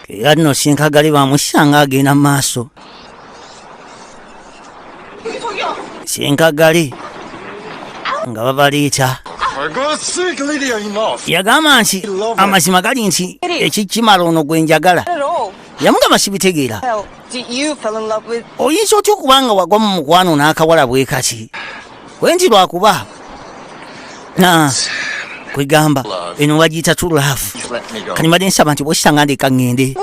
era lino sinkagali bamusanga agenda mu maaso sinkagali nga babaliita yagamba nti amazima gali nti ekikimala ono gwe njagala yamugamba sibitegeera oyinza otya okuba nga wagwa mu mukwano n'akawala bwe kaki we nti lwakuba kwegamba eno bagiyita tu love kati mbadde nsaba nti bwekitanga ndeka ŋŋende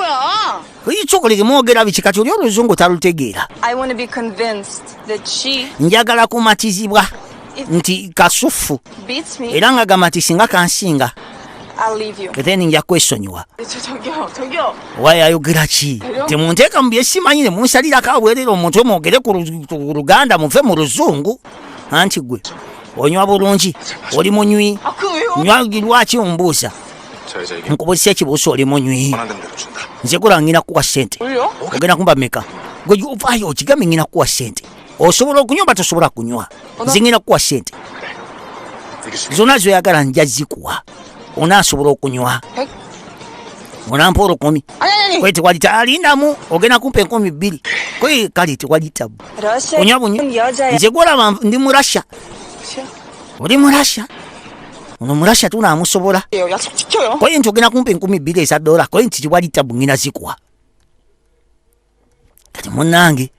ekyokolege mwogera biki kati oli oluzungu talutegeera njagala kumatizibwa nti kasufu era nga gamba nti singa kansinga then nja kwesonyiwa wayo ayogera ki temunteeka mu byesimanyi ne munsalirako abwerera omutwe mwogere ku luganda muve mu luzungu anti gwe onywa bulungi oli munywi nywa lwaki ombuuza nkubuzisa ekibuusa oli munywi nze gula ngina kuwa sente ogenda kumba meka gwe ovaayo okigambe ngina kuwa sente osobola okunywa oba tosobola kunywa zingenda kukuwa sente zonna zoyagala nja zikuwa onaasobola okunywa onampa olukumi kwe tewali talindamu ogenda kumpa enkumi bbiri kwe kale tewali tabu onywa bunywa nze gwolaba ndi mu russia oli mu russia ono murasha tunamusobola kwe nti ogenda kumpa enkumi bbiri eza dola kwe nti tewali tabu ngina zikuwa kati munange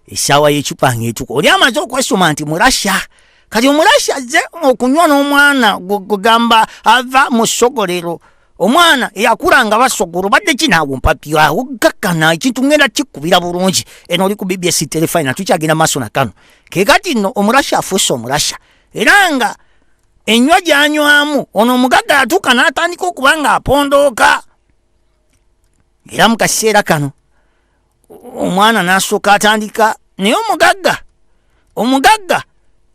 esaawa yecupa ngetuka oli amaze okwesoma nti murasha kati omurasha ze okunywa n'omwana gugamba ava mu ssogolero omwana eyakula nga basogoro badde kinaawo mpapyawo gakkana ekintu ngenda kikubira bulungi eno oli ku bbs telefina tukyagenda maaso na kano ke kati nno omurasha afuuse omurasha era nga enywa gyanywamu ono omugagga atuuka n'atandika okuba ng'apondooka era mu kaseera kano omwana n'asooka atandika naye omugagga omugagga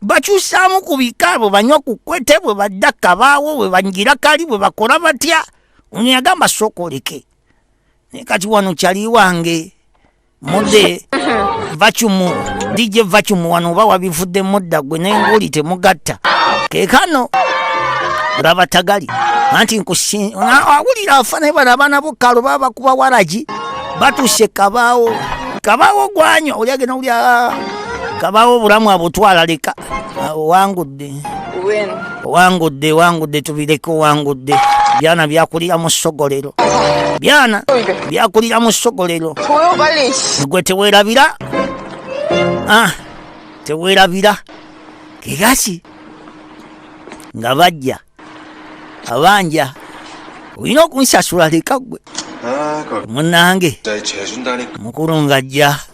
bakyusaamu ku bika bwe banywa ku kwete bwe badda kabaawo bwe bangira kali bwe bakola batya ono yagamba sooka oleke naye kati wano kyali wange mudde vacumu dj vacumu wano oba wabivudde mudda gwe nenguuli temugatta kekano olaba tagali anti nkuawulira afa naye bano abaana bukalo baba bakuba waragi batuse kabaawo kabaawo gwanya oli agenda wulya ah, kabaawo obulamu abutwala leka ah, owangudde wangudde wangudde tubireko wangudde byana byakulira mu ssogolero byana byakulira mu ssogolero gwe tewerabira ah, tewerabira kekaki nga bajja abanja olina okunsasula leka gwe ah, munange mukulu ngajja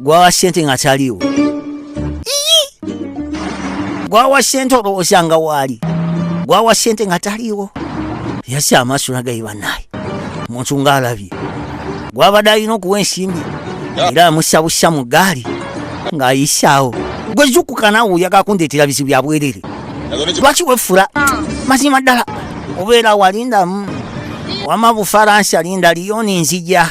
gwawa sente nga kyaliwo gwawa sente olowooza nga waali gwawa sente nga taliiwo yasi amaaso nagayi banaye muntu ng'alabye gwabadde alina okuwa ensimbi era amusabusa mu gaali ng'ayisaawo gwe zukuka naawe oyaga kundeetera bizibu bya bwerere lwaki wefula mazima ddala obeera walindamu wama bufaransa linda liyoni nzija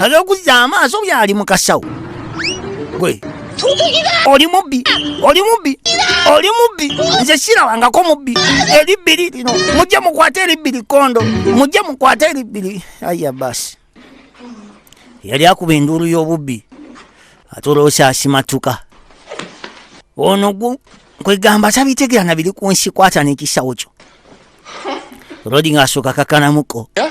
agakuzza amaaso byali mu kasawo gwe oli mubbi oli mubbi oli mubbi nze sirawangako mubbi eribbiri lino mujje mukwate eribbiri kondo mujje mukwate eribbiri aya basi yali akuba enduulu y'obubbi ate olowoosa asimatuka ono kwegamba tabitegera na biri ku nsi kwata n'ekisawo kyo rodi ng'asooka kakanamuko eh?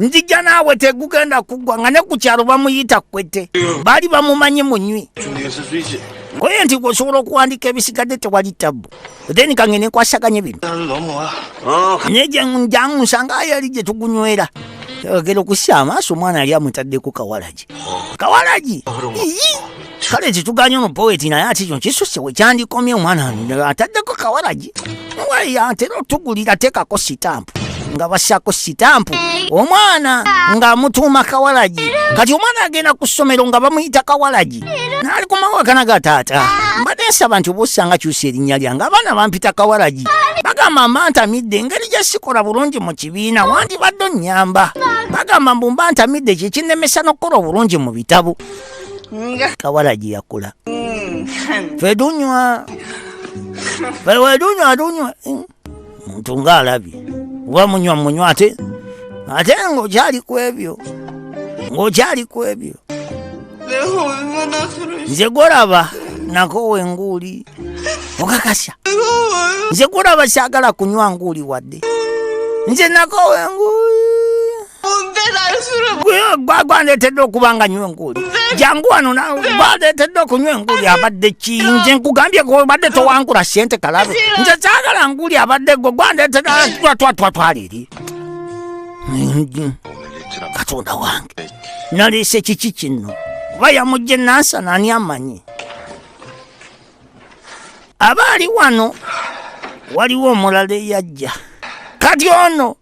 njija naawe tegugenda kuggwa nga ne ku kyalo bamuyita kwete baali bamumanyi munywi koye nti gwosobola okuwandika ebisigadde tewali tabbu then kange nekwasaganye bino nejangunsanga ayo ali gye tugunywera ogera okussa amaaso omwana yali amutadde ku kawalagi kawalagi kale nti tuganye ono poweti naye ati kino kisuse we kyandikomye omwana ataddeko kawalagi wayi atera otugulira teekako sitampu nga basako sitampu omwana ng'amutuuma kawalagi kati omwana agenda ku ssomero nga bamuyita kawalagi naali ku mawakana ga taata mbadde nsaba nti oba osanga kyusa erinnya lyange abaana bampita kawalagi bagamba mba ntamidde engeri gye sikola bulungi mu kibiina wandibadde onnyamba bagamba mbu mba ntamidde kye kinnemesa n'okukola obulungi mu bitabo kawala gye yakula fe tunywa fe wetunywa tunywa muntu nga alabye oba munywa munywa ate ate ng'okyali ku ebyo ng'okyali ku ebyo nze golaba nakowa enguuli okakasya nze golaba syagala kunywa nguuli wadde nze nakowa enguuli gwagwandeetedde okuba nga nywa enguuli jangu wano gwagwandeetedde okunywa enguuli abadde kinze nkugambye obadde towankula sente kalabe nze kyagala nguuli abadde gwe gwandeeteddeatwatwatwatwala eri katonda wange naleese kiki kino oba yamujje nansana ani amanyi aba ali wano waliwo omulala eyajja kati ono